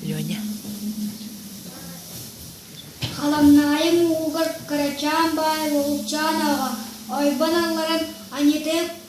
Леня. Халаннаайын уугар кырачаан баай Лугучаан ааҕа ойбон алларан аньытык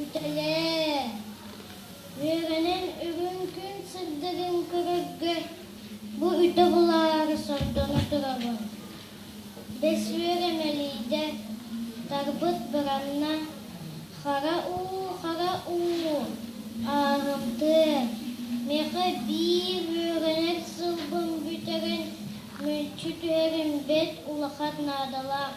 Үтэлээ! Үөрэнэн бүгүн күн сырдыгын көрөргө бу үтө булаары сордоно турабын. Бэс үөрэмэлийдэ, тарбыт быранна, хара уу, хара уу, ааһымтыа, мэхэ биир үөрэнэр сылбын бүтэрэн мүлчү түһэрим бэт улахан наадалаах.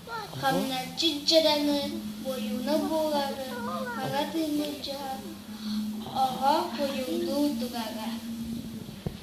хамначчыт дьадаҥы бойууна буолары хара тыыны дьаһа оҕо хойулуу тугага